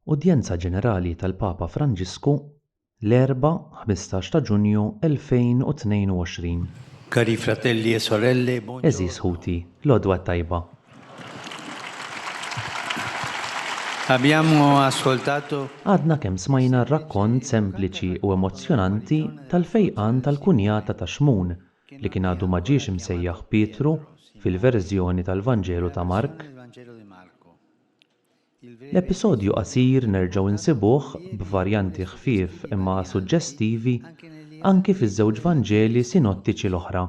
Udjenza Ġenerali tal-Papa Franġisku l-Erbgħa 15 ta' Ġunju 2022. Cari fratelli e sorelle, buon giorno. Għeżież ħuti, l-għodwa t-tajba. Abbiamo ascoltato. Għadna kemm smajna r-rakkont sempliċi u emozzjonanti tal-fejqan tal-kunjata ta' Xmun li kien għadu ma ġiex imsejjaħ Pietru fil-verżjoni tal-Vanġelu ta' Mark. L-episodju qasir nerġgħu nsibuh b'varjanti ħfief imma suġġestivi anki fiż-żewġ Vanġeli sinottiċi l-oħra.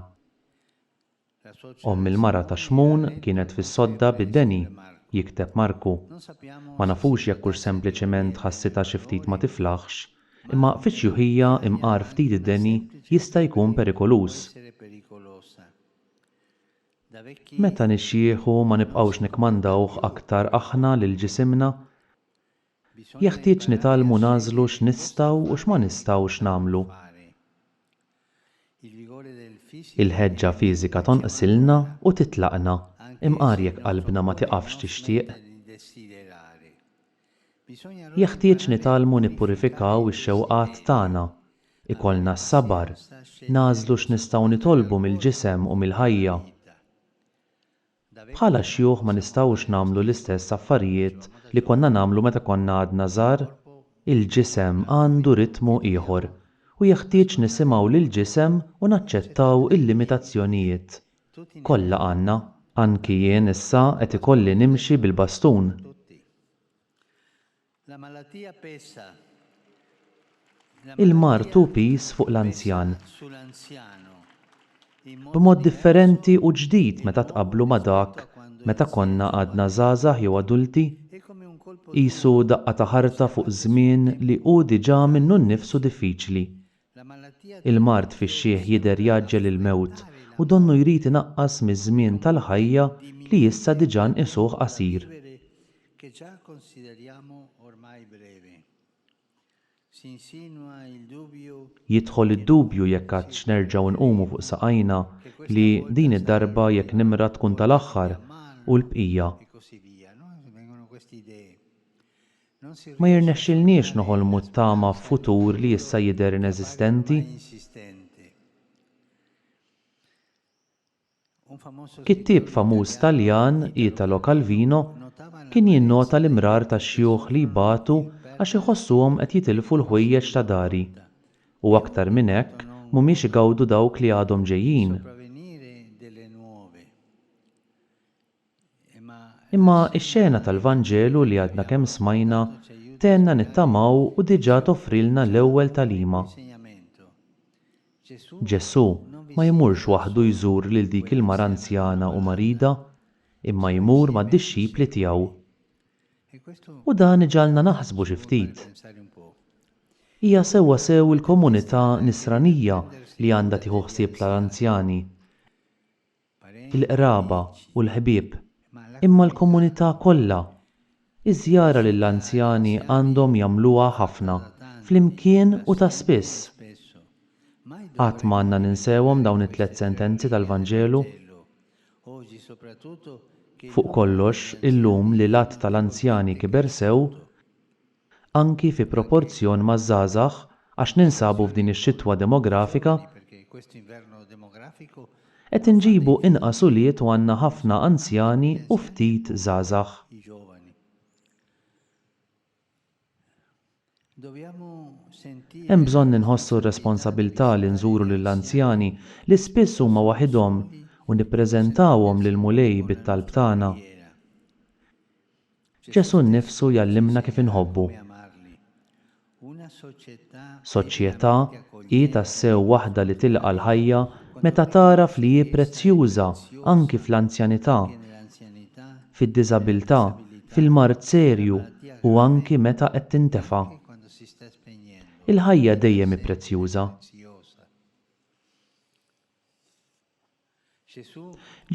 Omm il-mara ta' Xmun kienet fis-sodda bi Deni, jikteb Marku. Ma nafux jekk hux sempliċement ħassitha xi ftit ma tiflaħx, imma fiċ-xjuħija imqar ftit Deni jista' jkun perikoluż. Meta nixjieħu ma nibqgħux nikkmandawh aktar aħna lil ġisimna. Jeħtieġ nitgħallmu nagħżlu x'nistgħu u x'ma nistgħux nagħmlu. Il-ħeġġa fiżika tonqsilna u titlaqna, imqar jekk qalbna ma tiqafx tixtieq. Jeħtieġ nitgħallmu nippurifikaw ix-xewqat tagħna, ikollna s-sabar, nagħżlu x'nistgħu nitolbu mill-ġisem u mill-ħajja. Bħala xjuħ ma nistgħux nagħmlu l-istess affarijiet li konna nagħmlu meta konna għadna żgħar. Il-ġisem għandu ritmu ieħor u jeħtieġ nisimgħu lill-ġisem u naċċettaw il-limitazzjonijiet Kollha għandna. Anki jien issa qed ikolli nimxi bil-bastun. Il-mard hu piż fuq l-anzjan. B'mod differenti u ġdid meta tqabblu ma' dak meta konna għadna żgħażagħ jew adulti. Qisu daqqa ta' ħarta fuq żmien li hu diġà minnu nnifsu diffiċli. Il-mard fix-xiħ jidher jgħaġġel il-mewt u donnu jrid inaqqas miż-żmien tal-ħajja li issa diġà nqisuh qasir. Jidħol id-dubju jekk għadx nerġgħu nqumu fuq saqajna, li din id-darba jekk nimra tkun tal-aħħar, u l-bqija. Ma jirnexxilniex noħolmu t-tama f'futur li issa jidher ineżistenti. Kittieb famuż Taljan, Italo Calvino, kien jinnota l-imrar ta' xjuħ li jbatu għax iħossuhom qed jitilfu l-ħwejjeġ ta' dari, u aktar minn hekk, mhumiex igawdu dawk li għadhom ġejjin. Imma x-xena tal-Vanġelu li għadna kemm smajna tgħinna nittamaw u diġà toffrilna l-ewwel tagħlima. Ġesù ma jmurx waħdu jżur lil dik il-mara anzjana u marida, imma jmur mad-dixxipli tiegħu. U dan iġagħalna naħsbu xi ftit. Hija sewwa sew il-komunità Nisranija li għandha tieħu ħsieb tal-anzjani. il-qraba u l-ħbieb, imma l-komunità kollha. Iż-żjara lill-anzjani għandhom jagħmluha ħafna, flimkien u ta' spiss. Qatt ma għandna ninsewhom dawn it-tliet sentenzi tal-Vanġelu. Fuq kollox, illum li l-għadd tal-anzjani kiber sew, anki fi proporzjon maż-żgħażagħ għax ninsabu f'din ix-xitwa demografika qed inġibu inqas ulied u għandna ħafna anzjani u ftit żgħażagħ. Hemm bżonn inħossu r-responsabilità li nżuru lill-anzjani li spiss huma waħidhom u nippreżentawhom lill-Mulej bit-talb tagħna. Ġesù nnifsu jgħallimna kif inħobbu. Soċjetà hi tassew waħda li tilqa' l-ħajja meta tagħraf li hi prezzjuża anki fl-anzjanità, fid-diżabilità, fil-mard serju u anki meta qed tintefa'. Il-ħajja dejjem hi prezzjuża.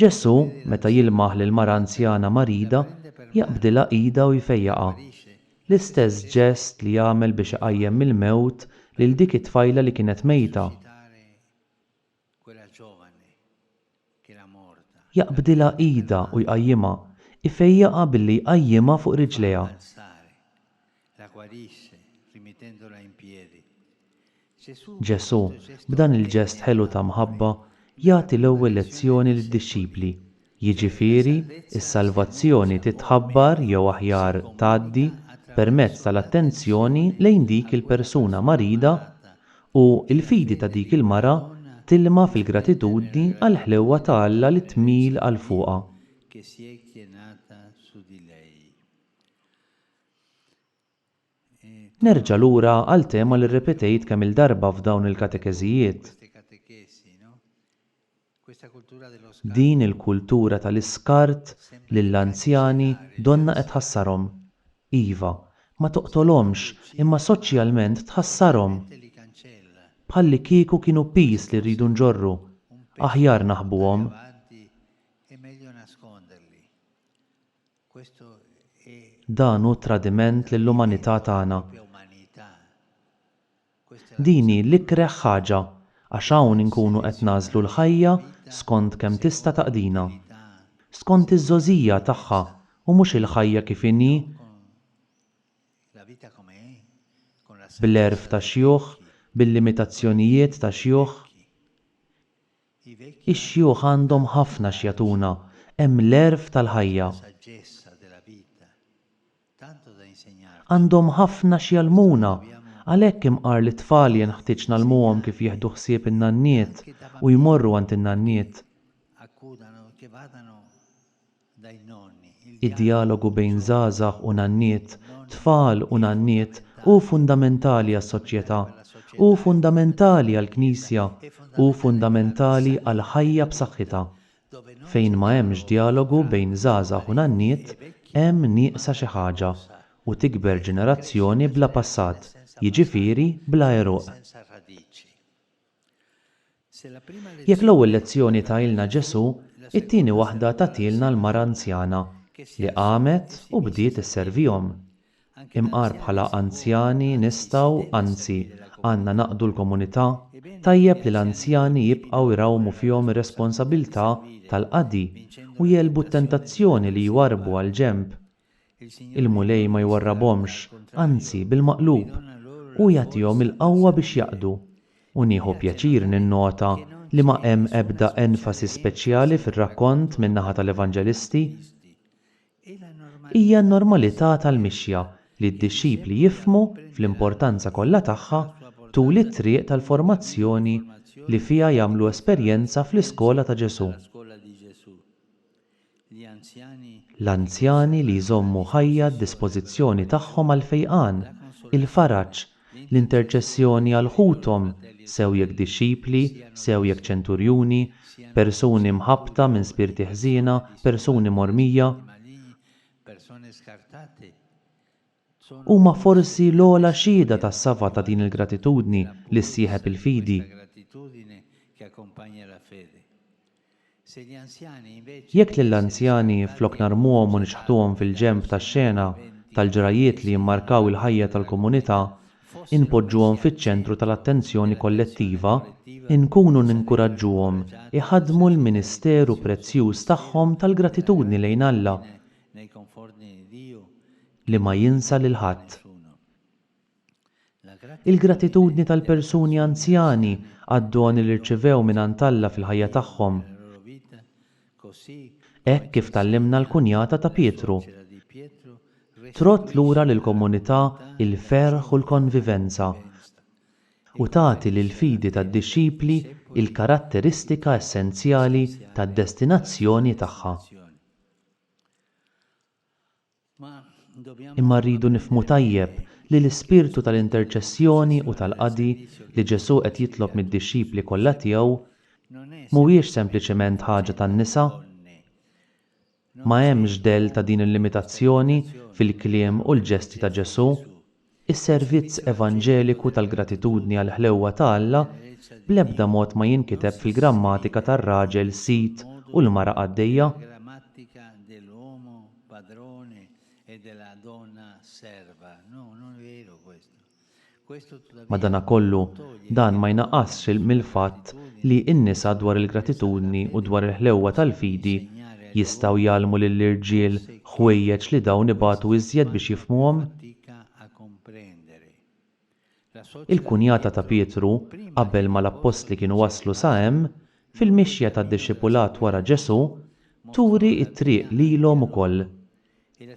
Ġesù, meta jilmaħ lill-mara anzjana marida, jaqbdilha idha u jfejjaqha. L-istess ġest li għamel biex iqajjem mill-mewt lil dik it-tfajla li kienet mejta. Jaqbdilha idha u jqajjimha, ifejjaqha billi jqajjimha fuq riġlejha. La guarisse, rimittendola in piedi. Gesù, Ġesù, facendo il gesto b'dan il-ġest ħelu d'amore e ta' di mħabba, salvezza, jagħti l-ewwel lezzjoni lid-dixxipli, jiġifieri, is-salvazzjoni titħabbar jew aħjar tgħaddi permezz tal-attenzjoni lejn dik il-persuna marida u l-fidi ta' dik il-mara tilma' fil-gratitudni għall-ħlewwa ta' Alla li tmil għal fuqha. Nerġa' lura għal tema li rrepetejt kemm-il darba f'dawn il-katekeżijiet. Din il-kultura tal-iskart lill-anzjani donnha qed tħassarhom. Iva, ma toqtolhomx imma soċjalment tħassarhom. Bħallikieku kienu piż li rridu nġorru. Aħjar naħbuhom. Dan hu tradiment lill-umanità tagħna. Din hi l-ikreh ħaġa għax hawn inkunu qed nagħżlu l-ħajja skont kemm tista' taqdina. Skont iż-żgħożija tagħha u mhux il-ħajja kif inhi bl-għerf ta' xjuħ, bil-limitazzjonijiet ta' xjuħ. Ix-xjuħ għandhom ħafna x'jagħtuna, hemm l-għerf tal-ħajja. Għandhom ħafna x'jgħallmuna, għalhekk imqar li t-tfal jenħtieġ ngħallmuhom kif jieħdu ħsieb in-nanniet u jmorru għand in-nanniet. Id-djalogu bejn żgħażagħ u nanniet, tfal u nanniet hu fundamentali għas-soċjetà, hu fundamentali għall-Knisja, hu fundamentali għal ħajja b'saħħitha. Fejn ma hemmx djalogu bejn żgħażagħ u nanniet hemm nieqsa xi ħaġa u tikber ġenerazzjoni bla passat, jiġifieri bla għeruq. Jekk l-ewwel lezzjoni tahielna Ġesù, it-tieni waħda tagħtielna l-mara anzjana li qamet u bdiet isservihom. Imqar bħala anzjani nistgħu, anzi, għandna naqdu l-komunità, tajjeb li l-anzjani jibqgħu jrawmu fihom ir-responsabilità tal-qadi u jegħlbu t-tentazzjoni li jwarrbu għall-ġenb Il-Mulej ma jwarrabhomx, anzi bil-maqlub, hu jagħtihom il-qawwa biex jaqdu. U nieħu pjaċir ninnota li ma hemm ebda enfasi speċjali fir-rakkont min-naħa tal-Evanġelisti. Hija n-normalità tal-mixja li d-dixxipli jifhmu fl-importanza kollha tagħha tul it-triq tal-formazzjoni li fiha jagħmlu esperjenza fl-iskola ta' Ġesù. L-anzjani li jżommu ħajja d-dispożizzjoni tagħhom għall-fejqan, il-faraġ, l-interċessjoni għal ħuthom, sew jekk dixxipli, sew jekk ċenturjuni, persuni mħabbta minn spirti ħżiena, persuni mormija. Huma forsi l-ogħla xhieda tas-safa ta' din il-gratitudni li ssieħeb il-fidi. Jekk lill-anzjani, flok narmuhom u niċħtuhom fil-ġenb tax-xena tal-ġrajjiet li jimmarkaw il-ħajja tal-komunità, inpoġġuhom fiċ-ċentru tal-attenzjoni kollettiva, inkunu ninkuraġġuhom iħaddmu l-ministeru prezzjuż tagħhom tal-gratitudni lejn Alla, li ma jinsa lil ħadd. Il-gratitudni tal-persuni anzjani għad-doni li rċivew mingħand Alla fil-ħajja tagħhom. Hekk kif tgħallimna l-kunjata ta' Pietru, trodd lura lill-komunità l-ferħ u l-konvivenza, u tagħti lill-fidi tad-dixxipli l-karatteristika essenzjali tad-destinazzjoni tagħha. Imma rridu nifhmu tajjeb li l-ispirtu tal-interċessjoni u tal-qadi li Ġesù qed jitlob mid-dixxipli kollha tiegħu mhuwiex sempliċement ħaġa tan-nisa. Ma hemmx dell ta' din il-limitazzjoni fil-kliem u l-ġesti ta' Ġesù. Is-servizz evanġeliku tal-gratitudni għall-ħlewwa ta' Alla bl-ebda mod ma jinkiteb fil-grammatika tar-raġel sid u l-mara qaddejja. Madanakollu, dan ma jnaqqasx mill-fatt li n-nisa dwar il-gratitudni u dwar il-ħlewwa tal-fidi Jistgħu jgħallmu lill-irġiel ħwejjeġ li dawn ibatu iżjed biex jifhmuhom. Il-kunjata ta' Pietru, qabel ma l-appostli kienu waslu sa hemm, fil-mixja tad-dixxipulat wara Ġesù, turi t-triq lilhom ukoll.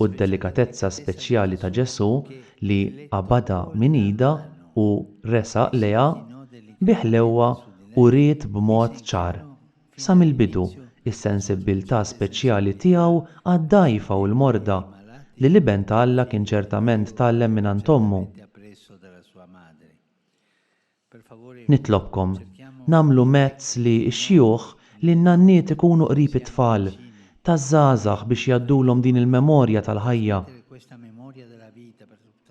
u d-delikatezza speċjali ta' Ġesù li qabadha minn idha u resaq lejha bi ħlewwa uriet b'mod ċar, sa mill-bidu, is-sensibbiltà speċjali tiegħu għad-dgħajfa u l-morda, li l-Iben ta' Alla kien ċertament tgħallem mingħand ommu. Nitlobkom, nagħmlu mezz li x-xjuħ, li n-nanniet ikunu qrib it-tfal, taż-żgħażagħ biex jgħaddulhom din il-memorja tal-ħajja,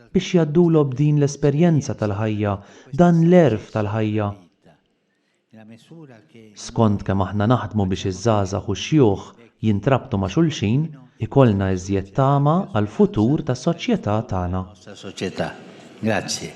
biex jgħaddulob din l-esperjenza tal-ħajja, dan l-għerf tal-ħajja. Skond kemm aħna naħdmu biex iż-żgħażagħ u x-xjuħ jintrabtu ma' xulxin, ikollna iżjed tama għall-futur tas-soċjetà tagħna. Grazzi.